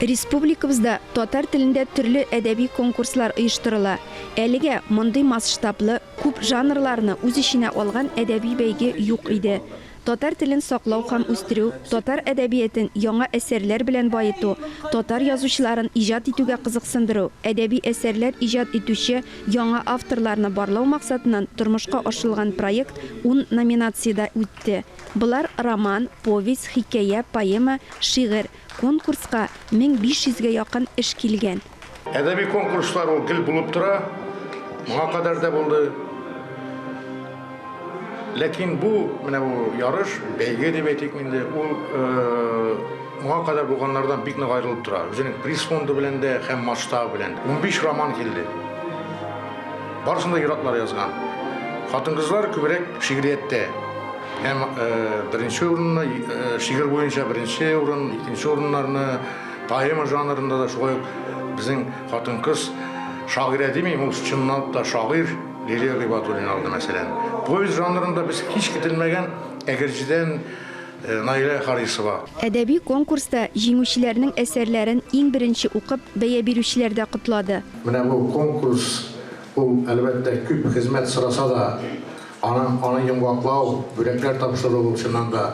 Республикабызда татар телендә төрле әдәби конкурслар оештырыла. Әлегә мондый масштаблы, күп жанрларны үз эченә алган әдәби бәйге юк иде. Татар телен саклау һәм үстерү, татар әдәбиятен яңа әсәрләр белән баету, татар язучыларын иҗат итүгә кызыксындыру, әдәби әсәрләр иҗат итүче яңа авторларны барлау максатыннан тормышка ашырылган проект ун номинациядә үтте. Болар роман, повесть, хикәя, поэма, шигырь. Конкурска 1500 гә якын эш килгән. Әдәби конкурслар ул гел булып тора, моңа кадәр дә булды. Ләкин бу, менә бу ярыш, бәйге дип әйтик инде, ул моңа кадәр булганнардан бик нык аерылып тора, үзенең приз фонды белән дә һәм масштабы белән дә. Унбиш роман килде. Барысын да иратлар язган. Хатын-кызлар күбрәк шигърияттә. Һәм беренче урынны шигырь буенча беренче урын, икенче урыннарны поэма жанрында да шулай ук безнең хатын-кыз шагыйрә димим, ул чынлап та шагыйр Лилия Гыйбатуллина алды, мәсәлән. Повесть жанрында без һич көтелмәгән Әгерҗедән Наилә Харисова. Әдәби конкурста җиңүчеләрнең әсәрләрен иң беренче укып, бәя бирүчеләр дә котлады. Менә бу конкурс, ул, әлбәттә, күп хезмәт сораса да, аны аны йомгаклау, бүләкләр тапшыру, ул, чыннан да,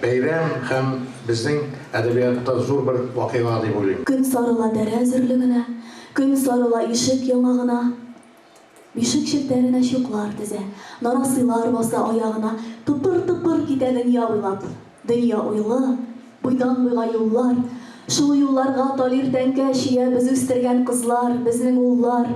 бәйрәм һәм безнең әдәбиятта зур бер вакыйга дип уйлыйм. Көн сарыла дәрә зөрлегенә, Көн сарыла ишек яңагына. Ишек челтәренә чуклар тезә, нарасыйлар баса аягына, тыпыр-тыпыр китә дөнья буйлап. Дөнья уйлы, буйдан-буйга юллар. Шул юлларга талир тәңкә чөя без үстергән кызлар, безнең уллар.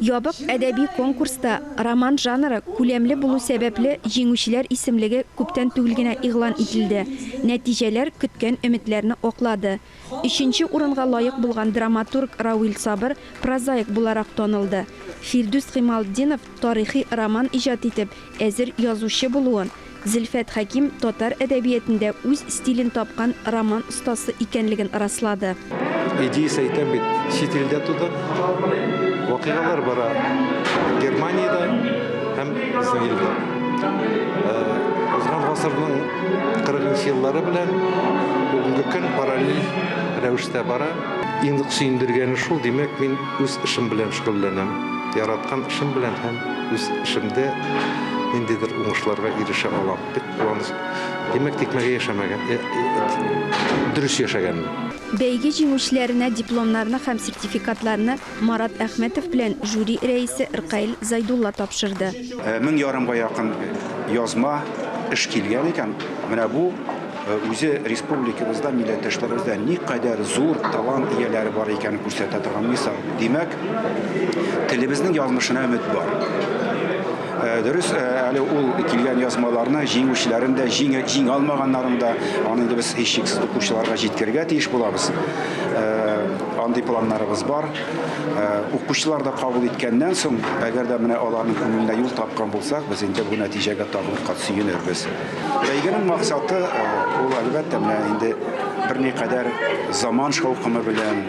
Ябык әдәби конкурста роман жанры күләмле булу сәбәпле җиңүчеләр исемлеге күптән түгел генә игълан ителде. Нәтиҗәләр көткән өметләрне аклады. Өченче урынга лаек булган драматург Рауил Сабыр прозаик буларак танылды. Фирдүс Гыймалтдинов тарихи роман иҗат итеп, әзер язучы булуын, Зөлфәт Хәким татар әдәбиятендә үз стилен тапкан роман остасы икәнлеген раслады. Эдис әйтә бит, чит илдә тудык, вакыйгалар бара Германиядә һәм безнең илдә. Узган гасырның 43 еллары белән бүгенге көн параллель рәвештә бара. Иң сөендергәне шул, димәк, мин үз эшем белән шөгыльләнәм. Яраткан эшем белән һәм үз эшемдә ниндидер уңышларга ирешә алам. Бик куаныч. Димәк, тикмәгә яшәмәгән, э, э, дөрес яшәгәнмен. Бәйге җиңүчеләренә дипломнарны һәм сертификатларны Марат Әхмәтов белән жюри рәисе Ркаил Зайдулла тапшырды. Мең ярымга якын язма, эш килгән икән. Менә бу үзе республикабызда, милләттәшләребездә никадәр зур талант ияләре бар икәнен күрсәтә торган мисал. Димәк, телебезнең язмышына өмет бар. Дөрес, әле ул килгән язмаларны җиңүчеләрен дә, җиңә алмаганнарын да, аны инде без һичшиксез укучыларга җиткерергә тиеш булабыз. Андый планнарыбыз бар. Э, укучылар да кабул иткәннән соң, әгәр дә менә аларның күңеленә юл тапкан булсак, без инде бу нәтиҗәгә тагын кат сөенербез. Бәйгенең максаты э, ул әлбәттә менә инде берникадәр заман шаукымы белән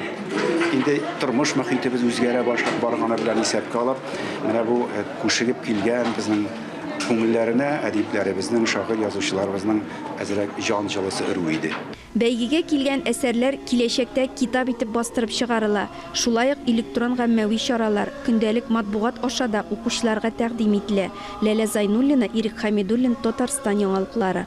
инде тормыш мөхитебез үзгәрә башлап барганы белән исәпкә алып, менә бу э, күшегеп килгән безнең күңелләренә әдипләребезнең, шагыйрь язучыларыбызның әзрәк җан җылысы өрү иде. Бәйгегә килгән әсәрләр киләчәктә китап итеп бастырып чыгарыла, шулай ук электрон гаммәви чаралар, көндәлек матбугат аша да укучыларга тәкъдим ителә, Ләлә Зайнуллина, Ирек Хәмидуллин, Татарстан яңалыклары.